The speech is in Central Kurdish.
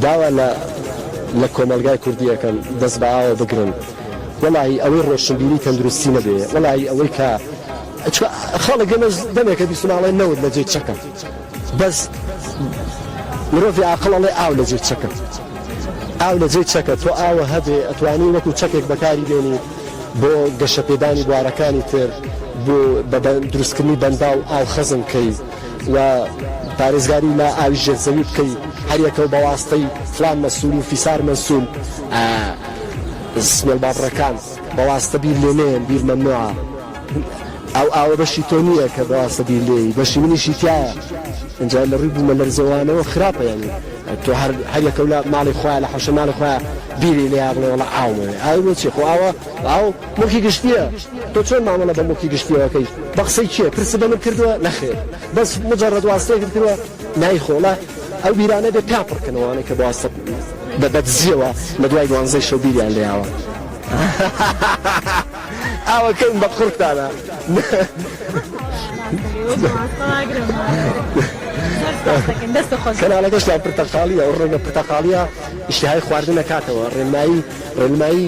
داوا لە لە کۆمەڵگای کوردی ئەکەم دەست بە ئاوە بگرن وەڵاهی ئەوەی ڕۆشنبیری تەندروستی نەبێ وەڵاهی ئەوەی کە چکە خەڵک ئێمە دەمێکە بیستم ئاڵێ نەوت لە جێ چەکە بەس مرۆڤی عاقڵ ئەڵێ ئاو لە جێ چەکە ئاو لە جێ چەکە تۆ ئاوە هەبێ ئەتوانی وەکو چەکێک بەکاری بێنی بۆ گەشەپێدانی بوارەکانی تر بۆ بە دروستکردنی بەنداو ئاو خەزم کەی و پارێزگاری لە ئاوی ژێر زەوی بکەی هەریەکەو بەواستەی فڵان مەسول و فیسار مەسول ئە سمێل بابڕەکان بەواستە بیر لێ نێن بیر مەمنوعە ئەو ئاوە بەشی تۆ نییە کە بەواستە بیر لێی بەشی منیشی تایە ئینجا لە ڕووی بوومە لەرزەوانەوە خراپە یانی تۆ هەر هەریەکەو لە ماڵی خۆیان لە حەوشە ماڵی خۆیان بیری لێیا بڵێ وڵا ئاومەوێ ئاوی بۆ چی خۆ ئاوە ئاو موڵکی گشتیە تۆ چۆن مامەڵە بە موڵکی گشتیەوە ئەکەی بە قسەی کێ پرست بە من کردوە نەخێر بەس مجەڕەد واستەیەکت کردوە نای خۆڵە ئەو بیرانە بێ پیا پڕ کەن ئەوانەی کە بە واستە بە بە دزیەوە لە دوای دوانزەی شەو بیریان لێ یاوە ئاوە کەین بە قوڕتانە کەناڵەکەشتان پرتەقاڵیە ئەو ڕێگە پرتەقاڵیە ئیشتهای خواردن نەکاتەوە ڕێنمایی ڕێنمایی